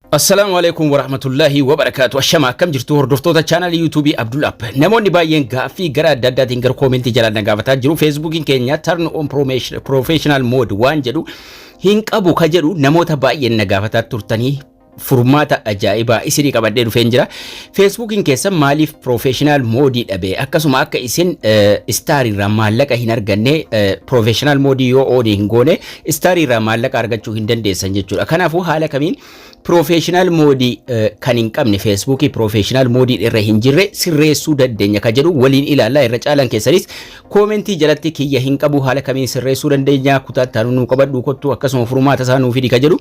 Assalaamu alaikum warahmatullahi wabarakaatu ashama akkam jirtu hordoftoota chaanalii yuutuubii Abdul App namoonni baay'een gaaffii gara adda addaatiin gara koomentii jalaan na gaafataa jiru feesbuukiin keenya turn on promotion- professional mode waan jedhu hin qabu ka jedhu namoota baay'een na gaafataa turtanii furmaata ajaa'ibaa isinii qabadhee dhufeen jira feesbuukiin keessan maaliif professional moodii dhabe akkasuma akka isin istaariirraa maallaqa hin arganne professional moodii yoo oonii hin goone Istaar irraa maallaqa argachuu hin dandeessan jechuudha. Kanaafuu haala kamiin piroofeeshinaal moodii kan hin qabne feesbuukii piroofeeshinaal moodii irra hin jirre sirreessuu dandeenya kan jedhu waliin ilaallaa irra caalaan keessanis koomentii jalatti kiyya hin qabu haala kamiin sirreessuu dandeenya kutaa itti aanu nuu qabadhu kottu akkasuma furmaata isaa nuu fidi kan jedhu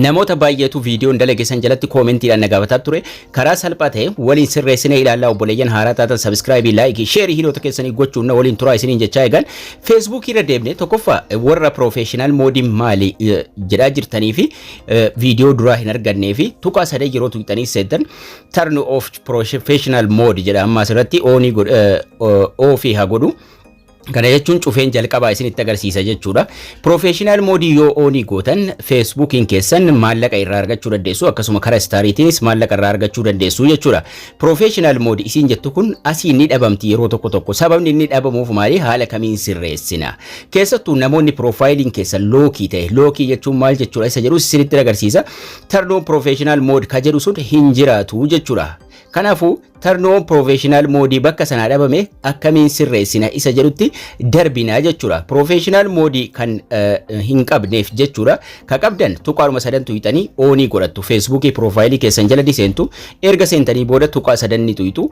namoota baay'eetu viidiyoon dalage san jalatti koomentiidhaan na gaafataa ture. Karaa salphaa ta'e waliin sirreessinee ilaallaa obboleeyyan haaraa taatan sabiskiraayibii, laayikii, sheerii hiriyoota keessanii gochuun na waliin turaa isiniin jechaa eegan. Feesbuukii irra deemnee tokkoffaa warra piroofeeshinaal moodii maali eh, jedhaa jirtanii fi eh, viidiyoo duraa hin argannee fi tuqaa sadee yeroo tuqxanii seetan turn off professional mode jedha amma asirratti oonii godh- eh, o- oofii haa godhu. Kana jechuun cufeen jalqabaa isinitti agarsiisa jechuudha. Professional moodii yoo oonii gootan Facebookiin keessan maallaqa irraa argachuu dandeessu akkasuma karaa istaariitiinis maallaqa irraa argachuu dandeessu jechuudha. Professional moodii isiin jettu kun asii ni dhabamti yeroo tokko tokko sababni inni dhabamuuf maali haala kamiin sirreessina. Keessattuu namoonni piroofaayiliin keessan lookii ta'e lookii jechuun maal jechuudha isa jedhu isinitti agarsiisa. Tarnoon professional mood ka jedhu sun hin jiraatu jechuudha. Kanaafuu Turn on professional mode bakka sanaa dhabame akkamiin sirreessina isa jedhutti darbina jechuudha. Professional mode kan eh, hin qabneef jechuudha. Ka qabdan tuqaadhuma sadan tuyxanii oonii godhattu. Feesbuukii piroofaayilii keessan jala ni seentu. Erga seentanii booda tuqaa sadan ni tuyxu.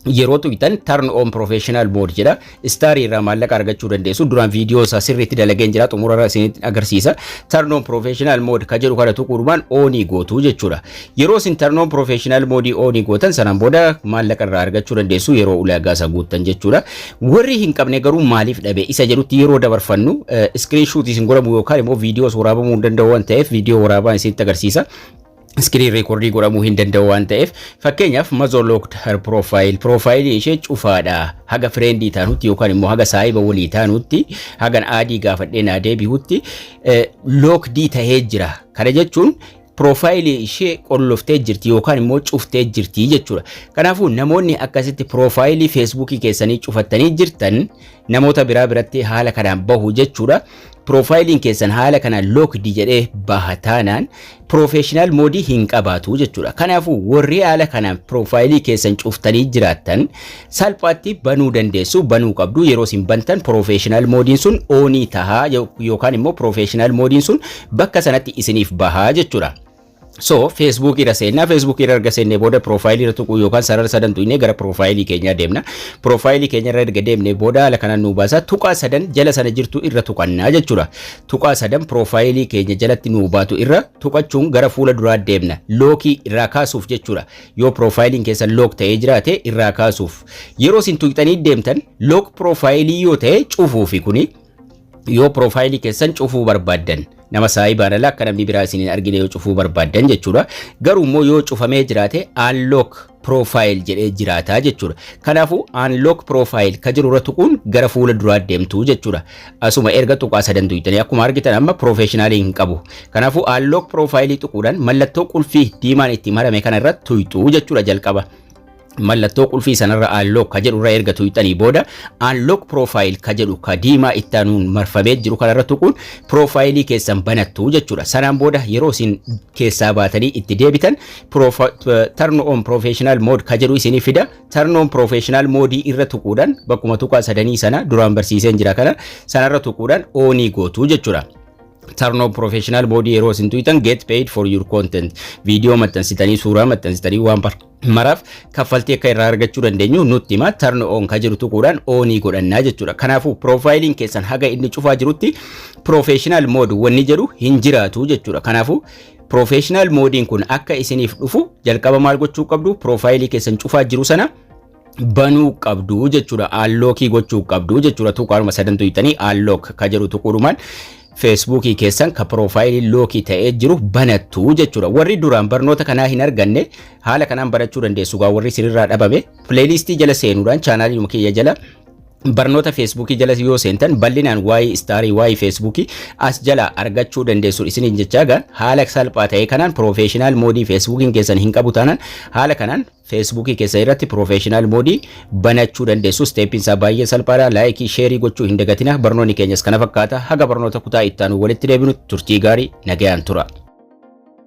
Yeroo tuyxan turn on professional mode jedha. Istaarii irraa maallaqa argachuu dandeessu. Duraan viidiyoo isaa sirriitti dalageen jira xumurarra isinitti agarsiisa. Turn on professional mode ka jedhu kana tuquudhumaan oonii gootu jechuudha. Yeroo isin turn on professional mode oonii gootan sanaan booda maallaqa irraa argachuu dandeessu yeroo ulaagaa isaa guuttan jechuudha. Warri hin qabne garuu maaliif dhabe isa jedhutti yeroo dabarfannu screenshot isin godhamu yookaan immoo viidiyoo waraabamuu hin danda'u waan ta'eef viidiyoo waraabaan isinitti agarsiisa. iskiriin reekordii godhamuu hin danda'u waan ta'eef fakkeenyaaf mazoo lookd har piroofaayil piroofaayilii ishee cufaadha haga fireendii taanutti yookaan immoo haga saahiba walii taanutti hagan aadii gaafadhee naa deebi'utti lookdii tahee jira kana jechuun piroofaayilii ishee qolloftee jirti yookaan immoo cuftee jirti jechuudha. Kanaafuu namoonni akkasitti piroofaayilii feesbuukii keessanii cufattanii jirtan namoota biraa biratti haala kanaan bahu jechuudha. Piroofaayiliin keessan haala kanaan lookdi jedhee baha taanaan piroofeeshinaal moodii hin qabaatu jechuudha. Kanaafuu warri haala kanaan piroofaayilii keessan cuftanii jiraattan salphaatti banuu dandeessu, banuu qabdu. Yeroo isin bantan piroofeeshinaal moodiin sun oonii tahaa yookaan immoo piroofeeshinaal moodiin sun bakka sanatti isiniif bahaa jechuudha. So Facebook irra seenna Facebook irra erga seennee booda profile irra tuquu yookaan sarara sadan tuqnee gara profile keenyaa deemna. Profile keenya irra erga deemnee booda haala kanaan nu baasa tuqaa sadan jala sana jirtu irra tuqannaa jechuudha. Tuqaa sadan profile keenya jalatti nu baatu irra tuqachuun gara fuula duraa deemna. Lookii irraa kaasuuf jechuudha. Yoo profile keessa look ta'ee jiraate irraa kaasuuf. Yeroo isin tuqxanii deemtan look profile yoo ta'e cufuufi kuni yoo piroofaayilii keessan cufuu barbaaddan nama saayibaan ala akka namni biraa isin hin argine yoo cufuu barbaaddan jechuudha. Garuu immoo yoo cufamee jiraate unlock profile jedhee jiraata jechuudha. Kanaafuu unlock profile ka jiru irra tuquun gara fuula duraa deemtu jechuudha. Asuma erga tuqaa sadan duuytanii akkuma argitan amma professional hin qabu. Kanaafuu unlock profile tuquudhaan mallattoo qulfii diimaan itti marame kana irra tuyxu jechuudha jalqaba. mallattoo qulfii sanarra unlock ka jedhu irra erga tuqxanii booda unlock profile ka jedhu ka diimaa itti aanuun marfamee jiru kanarra tuquun profaayilii keessan banattu jechuudha. Sanaan booda yeroo isin keessaa baatanii itti deebitan turn on professional mode ka jedhu isinii fida. Turn on professional mode irra tuquudhaan bakkuma tuqaa sadanii sana duraan barsiiseen jira kana sanarra tuquudhaan oonii gootu jechuudha. turn on professional mode yeroo isin tuqxan get paid for your content viidiyoo maxxansitanii suuraa maxxansitanii waan maraaf kaffaltii akka irraa argachuu dandeenyu nutti hima turn on kan jiru tuquudhaan oonii godhannaa jechuudha. Kanaafuu piroofaayiliin keessan haga inni cufaa jirutti piroofeeshinaal mood wanni jedhu hin jiraatu jechuudha. Kanaafuu piroofeeshinaal moodiin kun akka isiniif dhufu jalqaba maal gochuu qabdu piroofaayilii keessan cufaa jiru sana banuu qabdu jechuudha. Aanlookii gochuu qabdu jechuudha. Tuqaanuma sadantu hiitanii aanlook kan jedhu tuquudhumaan Feesbuukii keessan ka piroofaayilii lookii ta'ee jiru banattu jechuudha. Warri duraan barnoota kanaa hin arganne haala kanaan barachuu dandeessu. Gaa warri isinirraa dhabame pileeylistii jala seenuudhaan chaanaalii kiyya jala barnoota feesbuukii jala yoo seentan bal'inaan waa'ee istaarii waa'ee feesbuukii as jala argachuu dandeessu isiniin jechaa gaan haala salphaa ta'e kanaan piroofeeshinaal moodii feesbuukiin keessan hin qabu taanaan haala kanaan Feesbuukii keessan irratti Professional Mode banachuu dandeessu. Steepiin isaa baay'ee salphaadha. Laayikii, sheerii gochuu hin dagatina. Barnoonni keenyas kana fakkaata. Haga barnoota kutaa itti aanu walitti deebinu turtii gaarii nagayaan tura.